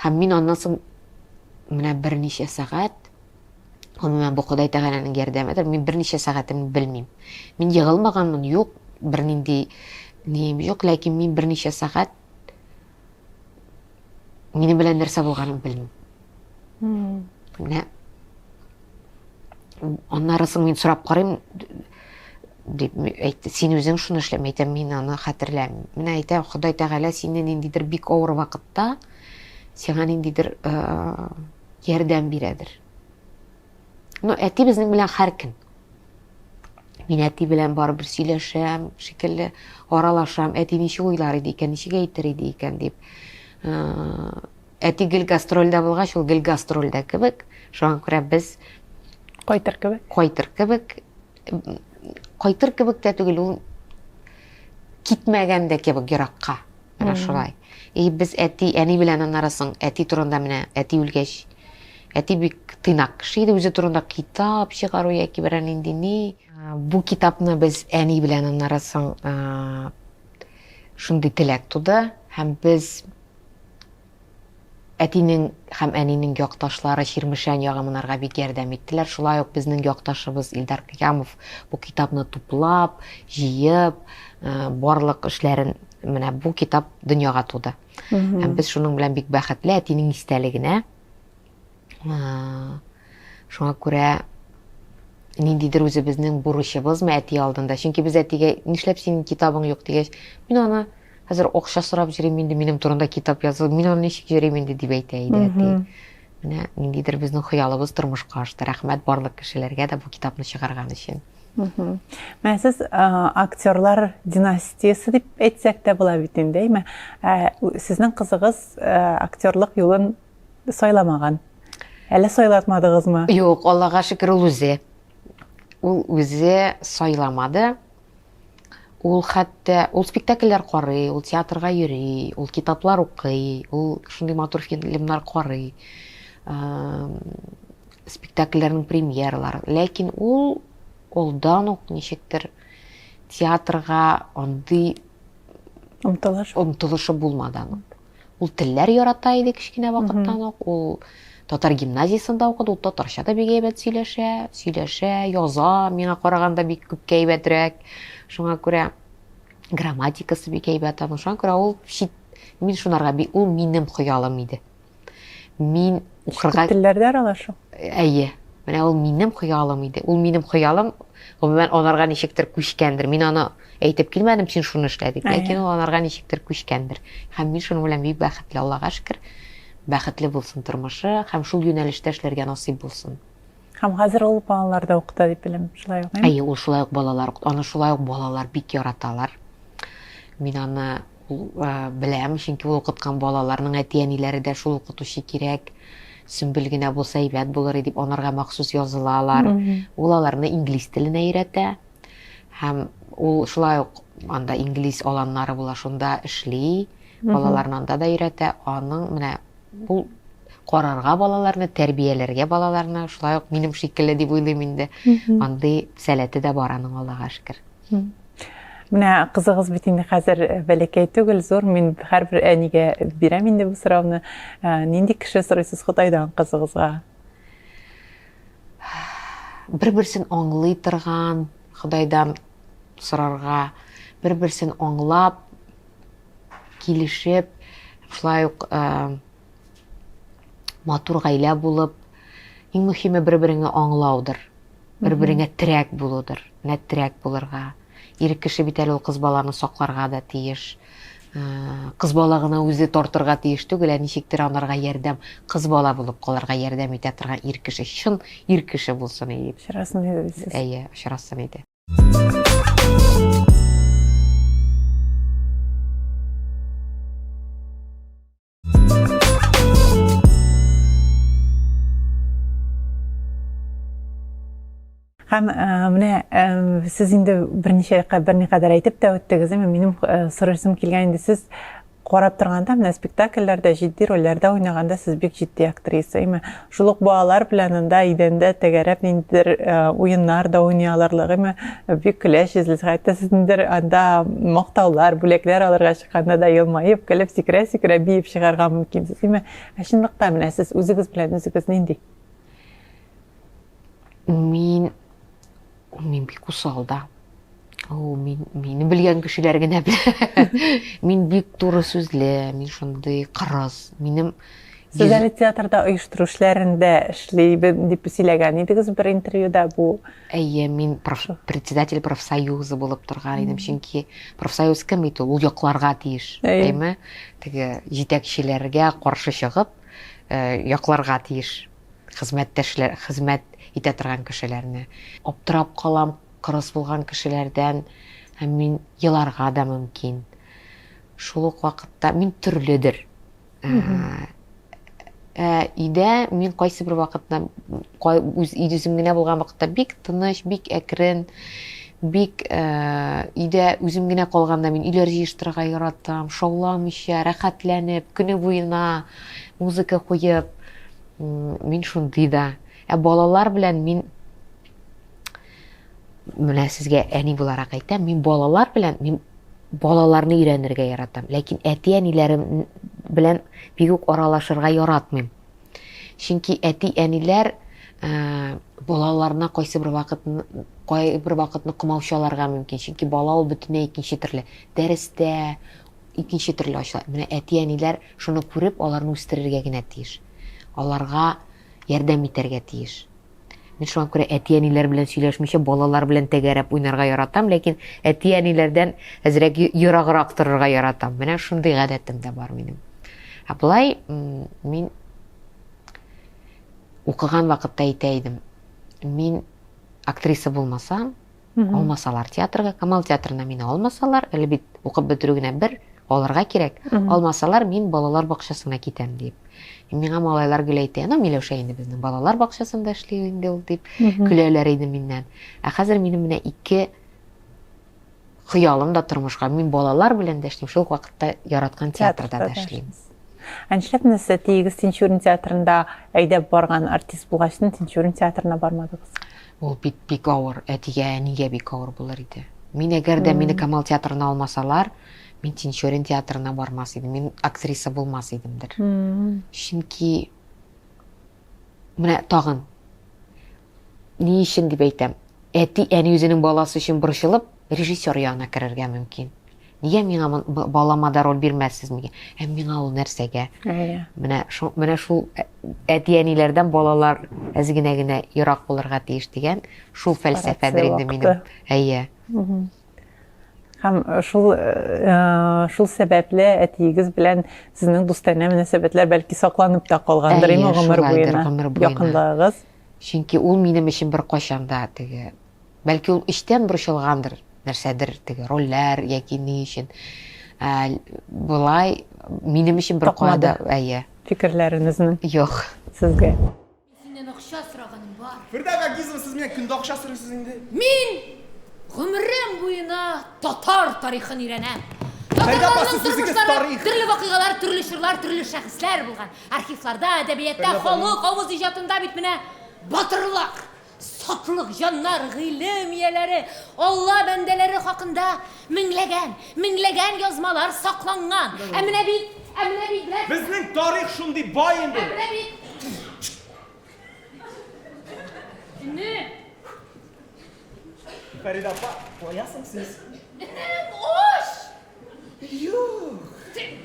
[SPEAKER 4] Һәм мин аннан соң менә берничә сәгать Гомумән, бу Ходай Тәгаләнең ярдәмедер. Мин берничә сәгатемне белмим. Мин егылмаганмын, юк, бернинди нием юк, ләкин мин берничә сәгать минем белән нәрсә булганын белмим. Менә аннары соң мин сорап карыйм, дип әйтте. Син үзең шуны эшләм, әйтәм, мин аны хәтерләмим. Менә әйтәм, Ходай Тәгалә сине ниндидер бик авыр вакытта, сиңа ниндидер э, ярдәм бирәдер. Ну, әти безнең белән һәркем. Мин әти белән барыбер сөйләшәм, шикелле аралашам. Әти ничек уйлар иде икән, ничек әйтер иде икән дип. Әти гел гастрольдә булгач, ул гел гастрольдә кебек. Шуңа күрә без кайтыр
[SPEAKER 1] кебек. Кайтыр кебек.
[SPEAKER 4] Кайтыр кебек тә түгел, ул китмәгән дә кебек еракка. Менә шулай. И без әти, әни белән аннары соң әти турында менә әти үлгәч. Әти бик тыйнак кеше иде, үзе турында китап чыгару яки берәр нинди ни. Бу китапны без әни белән аннары соң шундый теләк туды һәм без Әтинең һәм әнинең якташлары Чирмешән ягы монарга бик ярдәм иттеләр. Шулай ук безнең якташыбыз Илдар Кыямов бу китапны туплап, җыеп, барлык эшләрен менә бу китап дөньяга туды. Һәм без шуның белән бик бәхетле, әтинең истәлегенә. Шуңа күрә ниндидер үзебезнең бурычыбызмы әти алдында? Чөнки без әтигә нишләп синең китабың юк дигәч, мин аны хәзер акча сорап йөрим инде, минем турында китап язу, мин аны ничек йөрим инде дип әйтә иде әти. Менә ниндидер безнең хыялыбыз тормышка ашты. Рәхмәт барлык кешеләргә дә бу китапны чыгарган өчен. Менә
[SPEAKER 1] сез актерлар династиясе дип әйтсәк тә була бит инде, әйме? Сезнең кызыгыз актерлык юлын сайламаган әле сайлатмадыгызмы юк аллага шөкер
[SPEAKER 4] ул үзе ул үзе сайламады ул хәтта ул спектакльләр карый ул театрга йөри ул китаплар укый ул шундый матур фильмнар карый спектакльләрнең премьералары ләкин ул олдан ук ничектер театрга андый омтылыш омтылышы булмады аның Ул телләр ярата иде кечкенә вакыттан ук. Ул татар гимназиясендә укыды, ул татарча да бик әйбәт сөйләшә, сөйләшә, яза, миңа караганда бик күпкә әйбәтрәк. Шуңа күрә грамматикасы бик әйбәт аның. Шуңа күрә ул чит мин шунарга бик ул минем хыялым иде. Мин Укырга... Чит телләрдә аралашу?
[SPEAKER 1] Әйе.
[SPEAKER 4] Менә ул минем хыялым иде. Ул минем хыялым, гомумән, анарга ничектер күчкәндер. Мин аны әйтеп килмәдем, син шуны эшлә дип. Ләкин ул анарга ничектер күчкәндер. Һәм мин шуның белән бик бәхетле, Аллага шөкер. Бәхетле булсын тормышы һәм шул юнәлештә эшләргә насыйп булсын. Һәм хәзер ул
[SPEAKER 1] балаларда укыта дип беләм, шулай ук. Әйе, ул шулай ук балалар
[SPEAKER 4] укыта. Аны шулай ук балалар бик яраталар. Мин аны беләм, чөнки ул укыткан балаларның әти-әниләре дә шул укытучы кирәк. Сөмбел генә булса әйбәт булыр дип анарга махсус язылалар. Ул аларны инглиз теленә өйрәтә. Һәм ул шулай ук анда инглиз аланнары була, шунда эшли. Балаларны анда да өйрәтә. Аның менә Ул карарга балаларны, тәрбияләргә балаларны, шулай ук минем шикелле дип уйлыйм инде. Андый сәләте дә бар аның Аллага шөкер.
[SPEAKER 1] Менә кызыгыз бит инде хәзер э, бәләкәй түгел, зур. Мин һәрбер әнигә бирәм инде бу сорауны. Э, нинди кеше сорыйсыз Худайдан кызыгызга?
[SPEAKER 4] Бер-берсен аңлый торган Худайдан сорарга, бер-берсен аңлап, килешеп, шулай ук э, матур гаилә булып, иң мөһиме бер-береңне аңлаудыр. Бер-береңә терәк булудыр. Менә терәк булырга. Ир кеше бит әле ул кыз баланы сакларга да тиеш. Э, кыз бала гына үзе тартырга тиеш түгел, ә ничектер анарга ярдәм, кыз бала булып калырга ярдәм итә торган ир кеше, чын ир кеше булсын иде. Очрасын иде.
[SPEAKER 1] Әйе, очрасын
[SPEAKER 4] иде.
[SPEAKER 1] Һәм э, менә э, сез инде берничә берникадәр әйтеп тә үттегез, әмма минем э, сорашым килгән инде сез Карап торганда, менә спектакльләрдә җитди рольләрдә уйнаганда сез бик җитди актриса. Гыйме, шул ук балалар белән анда идәндә тәгәрәп ниндидер уеннар да уйный алырлык. Гыйме, бик көләчезлез. Хәтта сезнедер анда мактаулар, бүләкләр алырга чыкканда да елмаеп, көлеп, сикерә-сикерә биеп чыгарга мөмкинсез. Гыйме, ә чынлыкта менә сез үзегез белән үзегез нинди? Мин
[SPEAKER 4] Ул мин бик усал да. Ул мин мине белгән кешеләр генә белә. Мин бик туры сүзле, мин шундый кырыс. Минем Сез
[SPEAKER 1] әле театрда оештыру эшләрендә эшлибез дип сөйләгән идегез бер интервьюда бу. Әйе, мин проф,
[SPEAKER 4] председатель профсоюзы булып торган идем, чөнки профсоюз кем бит ул, ул якларга тиеш, әйме? Теге җитәкчеләргә каршы чыгып, э, якларга тиеш Хезмәттәшләр, хезмәт итә торган кешеләрне. Аптырап калам, кырыс булган кешеләрдән һәм мин еларга да мөмкин. Шул ук вакытта мин төрледер. Өйдә мин кайсы бер вакытта үз үзем генә булган вакытта бик тыныч, бик әкрен, бик өйдә үзем генә калганда мин өйләр җыештырырга яратам, шауламыйча, рәхәтләнеп, көне буена музыка куеп, мин шундый да ә балалар белән мин менә сезгә әни буларак әйтәм мин балалар белән мин балаларны өйрәнергә яратам ләкин әти әниләрем белән бик үк аралашырга яратмыйм чөнки әти әниләр ә, балаларына кайсы бер вакыт кайбер вакытны комаучаларга мөмкин чөнки бала ул бөтенләй икенче төрле дәрестә икенче төрле ачыла менә әти әниләр Шуны күреп, аларны үстерергә генә тиеш. Аларга ярдәм итәргә тиеш. Мин шуңа күрә әти-әниләр белән сөйләшмичә, балалар белән тәгәрәп уйнарга яратам, ләкин әти-әниләрдән әзрәк ераграк торырга яратам. Менә шундый гадәтем дә бар минем. Ә болай, мин укыган вакытта әйтә идем, мин актриса булмасам, Алмасалар театрга, Камал театрына мине алмасалар, әле бит укып бетерү генә бер, алырга кирәк. Алмасалар, мин балалар бакчасына китәм дип. Миңа малайлар гел әйтә, ну Миләүшә инде безнең балалар бакчасында эшли инде ул дип көләләр иде миннән. Ә хәзер минем менә ике хыялым да тормышка. Мин балалар белән дә эшлим, шул ук вакытта яраткан театрда да эшлим. Ә нишләп менә
[SPEAKER 1] сез Тиегез Тинчурин театрында әйдәп барган артист булгач, Тинчурин театрына бармадыгыз? Ул бит бик
[SPEAKER 4] авыр, әтигә, әнигә бик авыр булыр иде. Мин әгәр дә мине Камал театрына алмасалар, мин Тинчурин театрына бармас идем, мин актриса булмас идемдер. Чөнки менә тагын ни өчен дип әйтәм, әти әни үзенең баласы өчен борчылып, Режиссер ягына керергә мөмкин. Нигә миңа балама да роль бирмәссезмеге? Һәм миңа ул нәрсәгә? Әйе. Менә шул менә шул әти-әниләрдән балалар әзгенә генә ерак булырга тиеш дигән шул фәлсәфәдер инде минем. Әйе.
[SPEAKER 1] Һәм шул шул сәбәпле әтиегез белән сезнең дустанә мөнәсәбәтләр бәлки сакланып та калгандыр инде гомер буена. Якынлыгыгыз. Чөнки ул
[SPEAKER 4] минем өчен беркайчан да теге Бәлки ул эчтән борчылгандыр, нәрсәдер теге рольләр яки ни өчен болай минем өчен бер куады. Әйе. Фикерләренезне.
[SPEAKER 1] Юк.
[SPEAKER 4] Сезгә.
[SPEAKER 1] Синнән
[SPEAKER 3] акча сораганым бар. Фирдә Гагизова, сез менә
[SPEAKER 6] көндә акча сорыйсыз инде. Мин
[SPEAKER 3] гомерем буена татар тарихын өйрәнәм. Фәрдә апа,
[SPEAKER 6] сез үзегез тарих. Төрле вакыйгалар, төрле
[SPEAKER 3] чорлар, төрле шәхесләр булган. Архивларда, әдәбиятта, халык авыз иҗатында бит менә батырлар. Сатлык җаннар, гыйлем ияләре, Алла бәндәләре хакында меңләгән, меңләгән язмалар сакланган. Ә менә бит, ә менә бит, брат. Безнең
[SPEAKER 6] тарих шундый бай инде. Ә менә бит. Энем!
[SPEAKER 7] Фәридә апа, каясың сез? Энем, уш! Юк! Тик.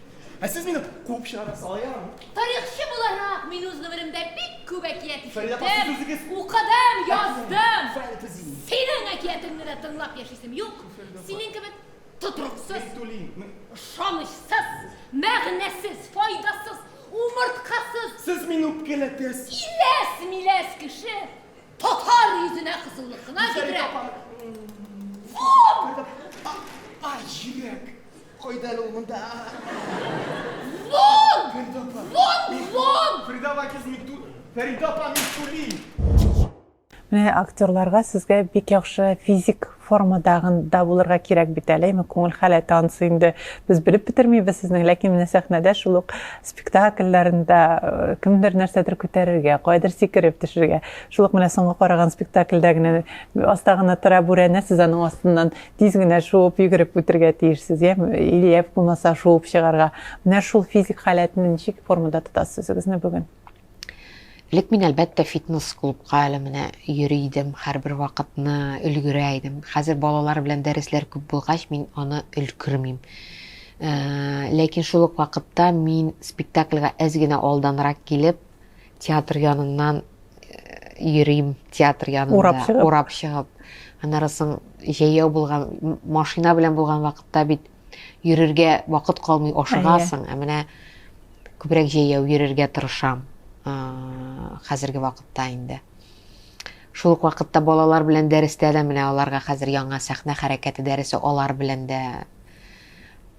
[SPEAKER 7] Ә сез мине куып чыгарга сала ярамы? Тарихчы буларак,
[SPEAKER 3] мин үз гомеремдә бик күп әкият ишеттем, укыдым, яздым.
[SPEAKER 7] Синең әкиятеңне
[SPEAKER 3] дә тыңлап яшисем юк. Синең кебек тотрыксыз, ышанычсыз, мәгънәсез, файдасыз, умырткасыз. Сез мине
[SPEAKER 7] үпкәләтәсез. Иләс, миләс
[SPEAKER 3] кеше татар йөзенә кызыллык кына китерә.
[SPEAKER 7] Фу! Ай, җирәк! Кайда әле ул монда?
[SPEAKER 3] Вон! Вон!
[SPEAKER 7] Вон!
[SPEAKER 3] Фрида Вакиз Миту...
[SPEAKER 7] Фрида апа Митули!
[SPEAKER 1] Менә актерларга сезгә бик яхшы физик формадагында булырга кирәк бит әле, әйме күңел халәте ансы инде без белеп бетермибез сезнең, ләкин менә сәхнәдә шул ук спектакльләрендә э, кемдер нәрсәдер күтәрергә, кайдыр сикереп төшергә. Шул ук менә соңгы караган спектакльдә генә астагына тора бүрәнә, сез аның астыннан Тиз генә шуып йөгереп үтергә тиешсез, я или я булмаса шуып чыгарга. Менә шул физик халәтне ничек формада тотасыз үзегезне бүген? Элек
[SPEAKER 4] мин әлбәттә фитнес клубка әле менә йөри идем, һәрбер вакытны өлгерә идем. Хәзер балалар белән дәресләр күп булгач, мин аны өлгермим. Ләкин шул ук вакытта мин спектакльгә әз генә алданрак килеп, Театр яныннан йөрим, театр янында урап чыгып. Аннары соң җәяү булган машина белән булган вакытта бит йөрергә вакыт калмый ашыгасың. Ә менә күбрәк җәяү йөрергә тырышам. Хәзерге вакытта инде. Шул ук вакытта балалар белән дәрестә дә менә аларга хәзер яңа сәхнә хәрәкәте дәресе алар белән дә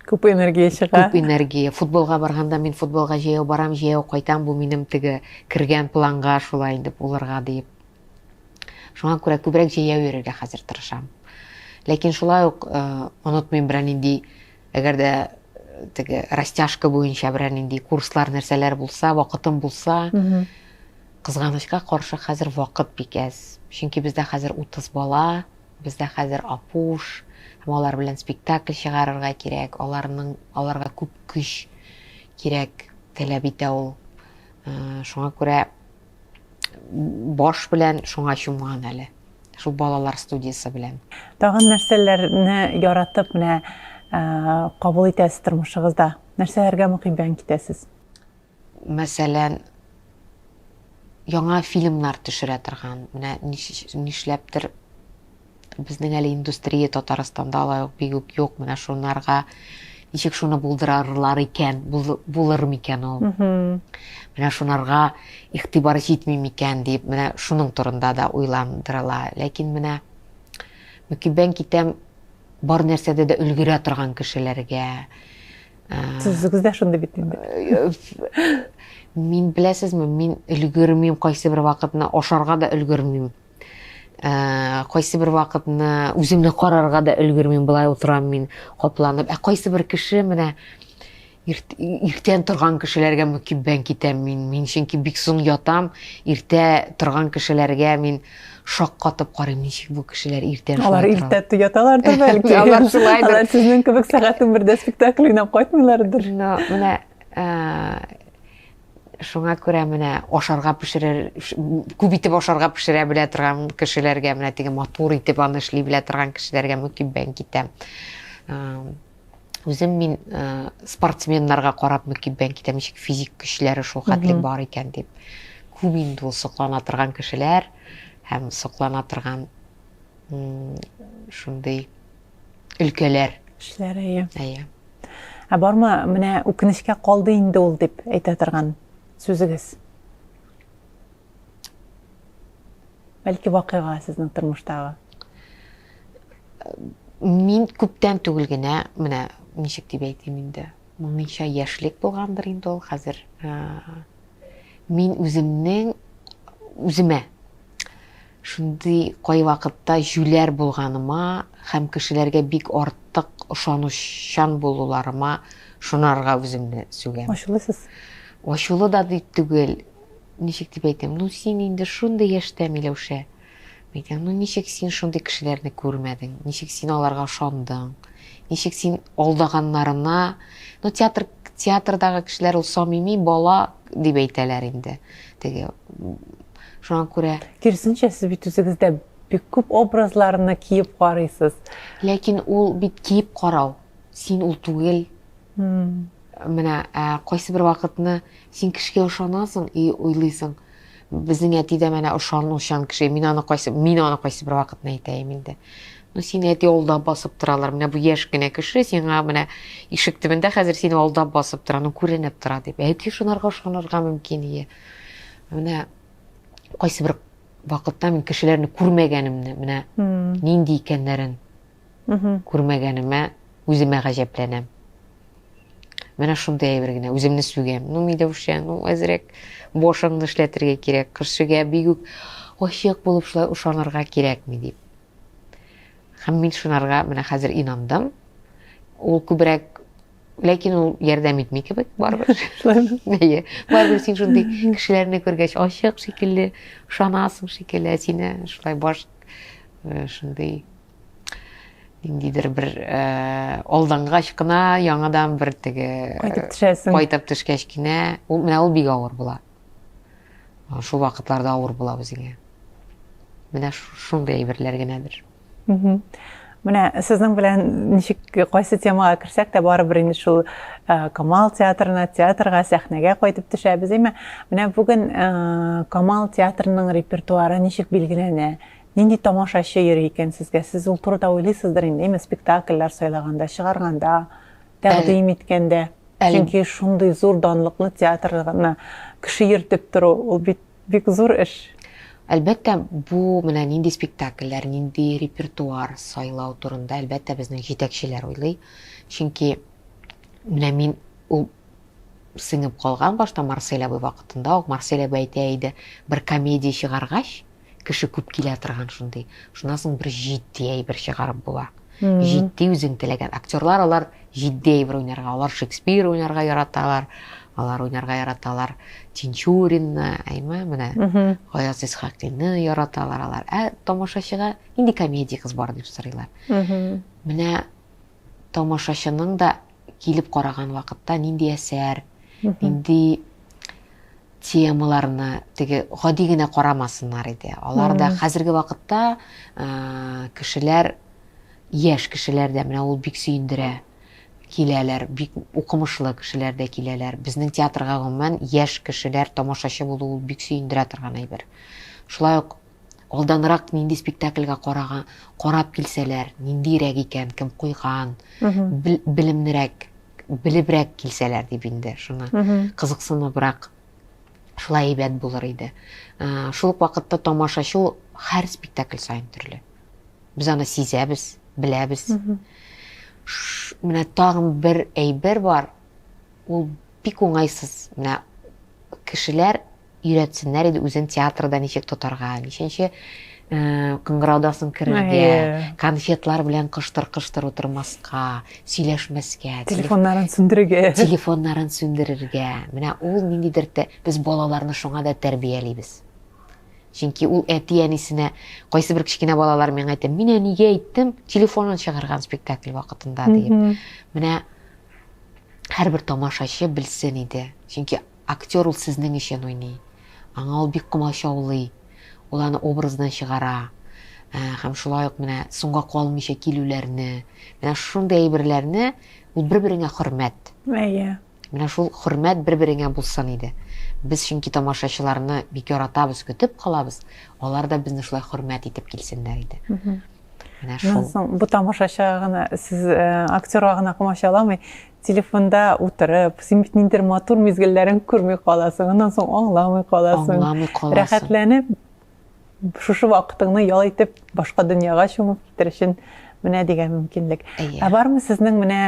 [SPEAKER 1] Күп энергия чыга. Күп энергия. Футболга
[SPEAKER 4] барганда мин футболга җәяү барам, җәяү кайтам, бу минем теге кергән планга шулай инде булырга диеп. Шуңа күрә күбрәк җәяү йөрергә хәзер тырышам. Ләкин шулай ук э, онытмыйм берәр нинди, әгәр дә э, теге растяжка буенча берәр нинди курслар, нәрсәләр булса, вакытым булса, кызганычка каршы хәзер вакыт бик әз. Чөнки бездә хәзер 30 бала, Бездә хәзер Апуш һәм алар белән спектакль чыгарырга кирәк, аларның, аларга күп көч кирәк, таләп итә ул. Шуңа күрә баш белән шуңа чумган әле. Шул балалар студиясе белән. Тагын нәрсәләрне
[SPEAKER 1] яратып менә кабул итәсез тормышыгызда? Нәрсәләргә мөхиббән китәсез?
[SPEAKER 4] мәсәлән, яңа фильмнар төшерә торган, менә нишләптер безнең әле индустрия Татарстанда алай ук бик үк юк, менә шунарга ничек шуны булдырарлар икән, булыр микән ул? Менә шунарга игътибар җитми микән дип, менә шуның турында да уйландырыла. Ләкин менә мөкиббән китәм бар нәрсәдә дә өлгерә торган кешеләргә,
[SPEAKER 1] Сүзегез дә шундый бит инде.
[SPEAKER 4] Мин беләсезме, мин өлгермим кайсы бер вакытны ашарга да өлгермим. Ә, кайсы бер вакытны үземне карарга да өлгермим, былай утырам мин капланып. Ә кайсы бер кеше менә иртән торган кешеләргә мөкиббән китәм мин. Мин чөнки бик соң ятам, иртә торган кешеләргә мин Шаккатып карыйм, ничек бу кешеләр иртә шулай Алар иртә
[SPEAKER 1] яталардыр бәлки. Алар шулай. Алар
[SPEAKER 4] сезнең кебек сәгать
[SPEAKER 1] 11-дә спектакль уйнап кайтмыйлардыр. Ну, менә
[SPEAKER 4] шуңа күрә менә ашарга пешерер күп итеп ашарга пешерә белә торган кешеләргә менә теге матур итеп аны эшли белә торган кешеләргә мөкиббән китәм үзем мин ә, спортсменнарга карап мөкиб бән китәм ничек физик көчләре шул хәтлек бар икән дип күп инде ул соклана торган кешеләр һәм соклана торган шундый өлкәләр кешеләр әйе
[SPEAKER 1] әйе
[SPEAKER 4] ә бармы
[SPEAKER 1] менә үкенечкә калды инде ул дип әйтә торган сүзегез Бәлки вакыйга сезнең тормыштагы?
[SPEAKER 4] Мин күптән түгел генә, менә ничек дип әйтим инде, мыңынча яшьлек булгандыр инде ул хәзер. Мин үземнең үземә шундый кай вакытта җүләр булганыма һәм кешеләргә бик артык ышанучан булуларыма шунарга үземне сүгәм. Ачулысыз?
[SPEAKER 1] Ачулы да
[SPEAKER 4] дип түгел, Ничек дип әйтим, ну син инде шундый яшьтә, Миләүшә. Мин әйтәм, ну ничек син шундый кешеләрне күрмәдең, ничек син аларга ышандың, ничек син алдаганнарына, ну театр, театрдагы кешеләр ул самими бала дип әйтәләр инде. Теге шуңа күрә. Киресенчә, сез бит
[SPEAKER 1] үзегездә бик күп образларны киеп карыйсыз. Ләкин ул
[SPEAKER 4] бит киеп карау, син ул түгел. Менә ә, кайсы бер вакытны син кешегә ошанасың и уйлыйсың, безнең әти дә менә ошанучан кеше, мин аны кайсы, мин аны кайсы бер вакытны әйтәем инде. Ну, сине әти алдап басып торалар, менә бу яшь кенә кеше сиңа менә ишек төбендә хәзер сине алдап басып тора, ну, күренеп тора дип. Әти шунарга ошанырга мөмкин ие. Менә кайсы бер вакытта мин кешеләрне күрмәгәнемне, менә нинди икәннәрен күрмәгәнемә үземә гаҗәпләнәм. Менә шундый әйбер генә, үземне сүгәм. Ну, Миләүшә, ну, әзрәк башыңны эшләтергә кирәк, кешегә бик үк ачык булып шулай ышанырга кирәкми дип. Һәм мин шунарга менә хәзер инандым. Ул күбрәк ләкин ул ярдәм итми кебек барыбер шулаймы әйе барыбер син шундый кешеләрне күргәч ачык шикелле ышанасың шикелле ә сине шулай баш э, шундый ниндидер бер э, алдангач кына яңадан бер теге кайтып төшәсең кайтып
[SPEAKER 1] төшкәч кенә
[SPEAKER 4] ул менә ул бик авыр була шул вакытларда авыр була үзеңә менә шундый әйберләр генәдер
[SPEAKER 1] Менә сезнең белән ничек кайсы темага керсәк тә барыбер инде шул э, Камал театрына, театрга, сәхнәгә кайтып төшәбез. Әмма менә бүген э, Камал театрының репертуары ничек билгеләнә? Нинди тамашачы йөри икән сезгә? Сез ул турыда уйлыйсыздыр инде, әмма спектакльләр сайлаганда, чыгарганда, тәкъдим иткәндә. Чөнки шундый зур данлыклы театрны кеше йөртеп тору, ул бит Бик зур эш. Әлбәттә,
[SPEAKER 4] бу менә нинди спектакльләр, нинди репертуар сайлау турында, әлбәттә, безнең җитәкчеләр уйлый. Чөнки менә мин ул сеңеп калган башта Марсель абый вакытында ук Марсель абый әйтә иде, бер комедия чыгаргач, кеше күп килә торган шундый. Шуннан соң бер җитди әйбер чыгарып була. Җитди үзең теләгән актерлар алар Җитди әйбер уйнарга, алар Шекспир уйнарга яраталар, алар уйнарга яраталар Тинчуринны, әйме, менә Гаяз Исхакинны яраталар алар. Ә тамашачыга нинди комедия кыз бар дип сорыйлар. Менә тамашачының да килеп караган вакытта нинди әсәр, нинди темаларны теге гади генә карамасыннар иде. Алар да хәзерге вакытта кешеләр Яшь кешеләр дә менә ул бик сөендерә, киләләр, бик укымышлы кешеләр дә киләләр. Безнең театрга, гомумән, яшь кешеләр тамашачы булу ул бик сөендерә торган әйбер. Шулай ук алданрак нинди спектакльгә карага, карап килсәләр, ниндирәк икән, кем куйган, бел, белемнерәк, белебрәк килсәләр дип инде, шуны кызыксыныбрак, шулай әйбәт булыр иде. Шул ук вакытта тамашачы ул һәр спектакль саен төрле. Без аны сизәбез, беләбез. Менә тагын бер әйбер бар. Ул бик уңайсыз. Менә кешеләр өйрәтсеннәр иде үзен театрда ничек тотарга, ничәнче э, кыңгыраудасың керергә, конфетлар белән кыштыр-кыштыр утырмаска, сөйләшмәскә, телефоннарын
[SPEAKER 1] сүндерергә. Телефоннарын сүндерергә.
[SPEAKER 4] Менә ул ниндидер без балаларны шуңа да тәрбиялибез. Чөнки ул әти-әнисенә кайсы бер кечкенә балалар мен әйтә, мин әнигә әйттем, телефонын чыгарган спектакль вакытында диеп. Менә һәрбер тамашачы белсен иде. Чөнки актер ул сезнең өчен уйный. Аңа ул бик комачаулый. Ул аны образдан чыгара. Ә, һәм шулай ук менә соңга калмыйча килүләрне, менә шундый әйберләрне ул бер-береңә хөрмәт. Әйе. Менә шул хөрмәт бер-береңә булсын иде. Без чөнки тамашачыларны бик яратабыз, көтеп калабыз, алар да безне шулай хөрмәт итеп килсеннәр иде. Менә шул. Моннан соң бу тамашачыга
[SPEAKER 1] гына, сез э, актерга гына комачаламый, телефонда утырып, син бит ниндидер матур мизгелләрен күрми каласың, аннан соң аңламый каласың. Аңламый каласың. Рәхәтләнеп, шушы вакытыңны ял итеп башка дөньяга чумып китер өчен менә дигән мөмкинлек ә бармы сезнең менә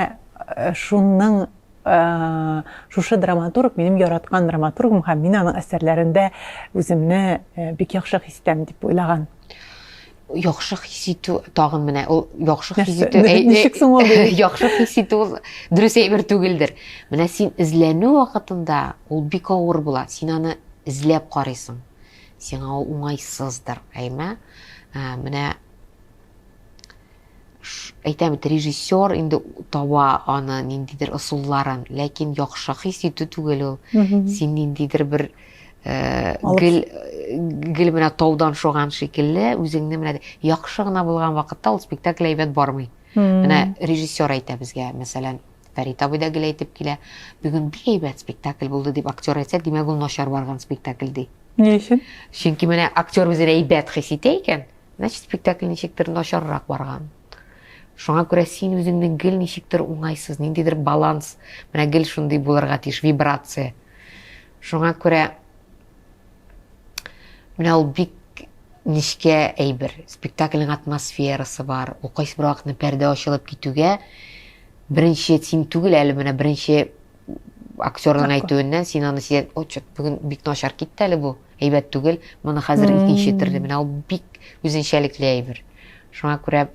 [SPEAKER 1] э, шуның э, шушы драматург минем яраткан драматургым һәм мин аның әсәрләрендә үземне э, бик яхшы хис итәм дип уйлаган
[SPEAKER 4] яхшы хис итү тагын менә ул яхшы хис итү ничек соң
[SPEAKER 1] ул яхшы хис итү ул
[SPEAKER 4] дөрес әйбер түгелдер менә син эзләнү вакытында ул бик авыр була син аны эзләп карыйсың Сиңа ул уңайсыздыр, әйме? Ә, менә әйтәм бит, режиссер инде таба аны ниндидер ысулларын, ләкин яхшы хис итү түгел ул. Син ниндидер бер э, гел гел менә таудан шуган шикелле үзеңне менә яхшы гына булган вакытта ул спектакль әйбәт бармый. Менә режиссер әйтә безгә, мәсәлән, Фәрит абый да гел әйтеп килә, бүген бик әйбәт спектакль булды дип актер әйтсә, димәк ул начар барган спектакль ди. Ни өчен?
[SPEAKER 1] Чөнки менә актер
[SPEAKER 4] үзен әйбәт хис итә икән, значит спектакль ничектер начаррак барган. Шуңа күрә син үзеңне гел ничектер уңайсыз, ниндидер баланс, менә гел шундый булырга тиеш вибрация. Шуңа күрә Менә ул бик нечкә әйбер. Спектакльнең атмосферасы бар. Ул кайсы бер вакытны пәрдә ачылып китүгә беренче син түгел әле менә беренче актерның әйтүеннән син аны сизәт, ой, чот, бүген бик начар китте әле бу. Әйбәт түгел. Моны хәзер икенче төрле. Менә ул бик үзенчәлекле әйбер. Шуңа күрә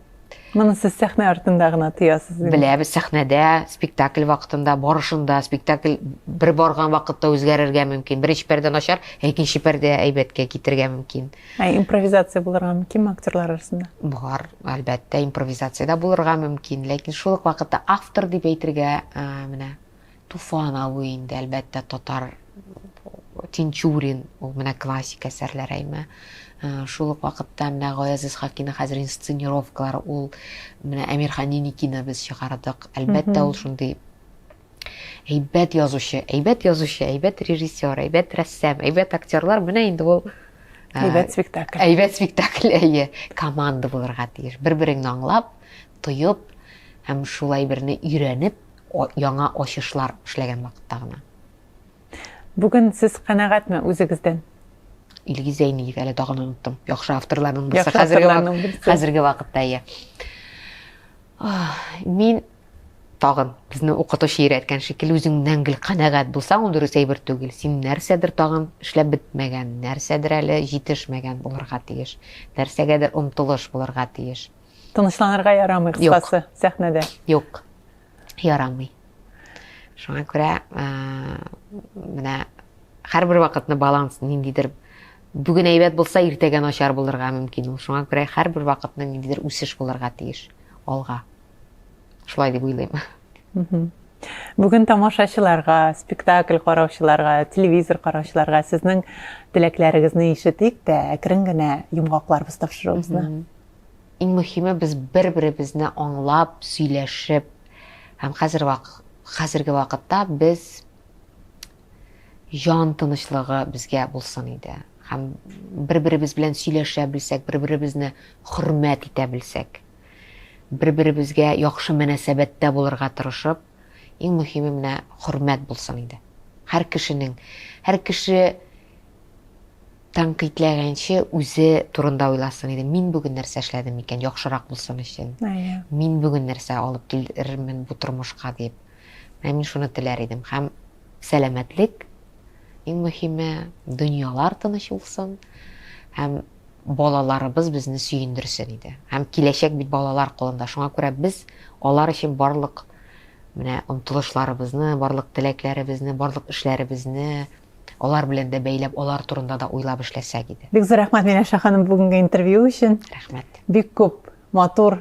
[SPEAKER 4] Моны сез сәхнә
[SPEAKER 1] артында гына тоясыз. Беләбез, сәхнәдә,
[SPEAKER 4] спектакль вакытында, барышында, спектакль бер барган вакытта үзгәрергә мөмкин. Беренче пәрдә начар, ә икенче пәрдә әйбәткә китергә мөмкин. Ә импровизация
[SPEAKER 1] булырга мөмкинме актерлар арасында? Бар,
[SPEAKER 4] әлбәттә, импровизация дә булырга мөмкин, ләкин шул ук вакытта автор дип әйтергә менә Туфан абый инде, әлбәттә, татар Тинчурин, ул менә классик әсәрләр әйме. Шул ук вакытта менә Гаяз Исхакина хәзер инсценировкалар, ул менә Әмирхан Еникина без чыгардык. Әлбәттә, ул шундый әйбәт язучы, әйбәт язучы, әйбәт режиссер, әйбәт рәссам, әйбәт актерлар, менә инде ул әйбәт
[SPEAKER 1] спектакль. Әйбәт спектакль,
[SPEAKER 4] әйе, команда булырга тиеш. Бер-береңне аңлап, тоеп һәм шулай берне өйрәнеп яңа ачышлар эшләгән вакытта гына.
[SPEAKER 1] Бүген сез канәгатьме үзегездән? Илгиз
[SPEAKER 4] Зәйниев, әле тагын оныттым. Яхшы авторларның берсе хәзерге, хәзерге
[SPEAKER 1] вакытта иә.
[SPEAKER 4] Мин тагын безне укытучы өйрәткән шикелле үзеңнән гел канәгать булсаң ул дөрес әйбер түгел син нәрсәдер тагын эшләп бетмәгән нәрсәдер әле җитешмәгән булырга тиеш нәрсәгәдер омтылыш булырга тиеш Тынычланырга
[SPEAKER 1] ярамый, кыскасы, сәхнәдә. Юк,
[SPEAKER 4] ярамый. Шуңа күрә менә һәрбер вакытны баланс ниндидер бүген әйбәт булса, иртәгә начар булырга мөмкин ул. Шуңа күрә һәрбер вакытны ниндидер үсеш булырга тиеш алга. Шулай дип уйлыйм.
[SPEAKER 1] Бүген тамашачыларга, спектакль караучыларга, телевизор караучыларга сезнең теләкләрегезне ишетик тә, әкрен генә йомгакларбыз тапшыруыбызны. Иң мөһиме,
[SPEAKER 4] без бер-беребезне аңлап, сөйләшеп һәм хәзер вак, хәзерге вакытта без җан тынычлыгы безгә булсын иде. Һәм бер-беребез белән сөйләшә белсәк, бер-беребезне хөрмәт итә белсәк, бер-беребезгә яхшы мөнәсәбәттә булырга тырышып, иң мөһиме менә хөрмәт булсын иде. Һәр кешенең, һәр кеше тәнкыйтьләгәнче үзе турында уйласын иде. Мин бүген нәрсә эшләдем икән, яхшырак булсын өчен. Мин бүген нәрсә алып килермен бу тормышка дип. Менә мин шуны теләр идем. Һәм сәламәтлек, иң мөһиме, дөньялар тыныч булсын һәм балаларыбыз безне сөендерсен иде. Һәм киләчәк бит балалар кулында. Шуңа күрә без алар өчен барлык менә омтылышларыбызны, барлык теләкләребезне, барлык эшләребезне Алар белән дә бәйләп, алар турында да уйлап эшләсәк иде. Бик зур рәхмәт Миләүшә ханым
[SPEAKER 1] бүгенге интервью өчен. Рәхмәт. Бик күп матур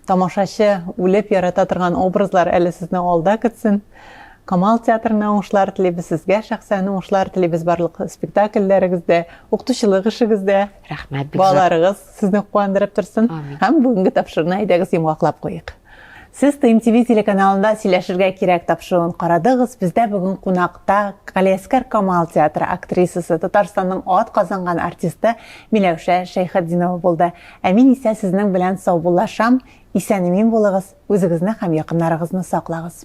[SPEAKER 1] тамашачы үлеп ярата торган образлар әле сезне алда көтсен. Камал театрына уңышлар телибез, сезгә шәхсән уңышлар телибез барлык спектакльләрегездә, укытучылык эшегездә. Рәхмәт, бик зур. Балаларыгыз
[SPEAKER 4] сезне
[SPEAKER 1] куандырып торсын. Амин. Һәм бүгенге
[SPEAKER 4] тапшыруны
[SPEAKER 1] әйдәгез йомгаклап куйыйк. Сез ТНТВ телеканалында Сөйләшергә кирәк тапшыруын карадыгыз. Бездә бүген кунакта Галиәскәр Камал театры актрисасы, Татарстанның ат казанган артисты Миләүшә Шәйхетдинова булды. Ә мин исә сезнең белән саубуллашам. Исән-имин булыгыз, үзегезне һәм якыннарыгызны саклагыз.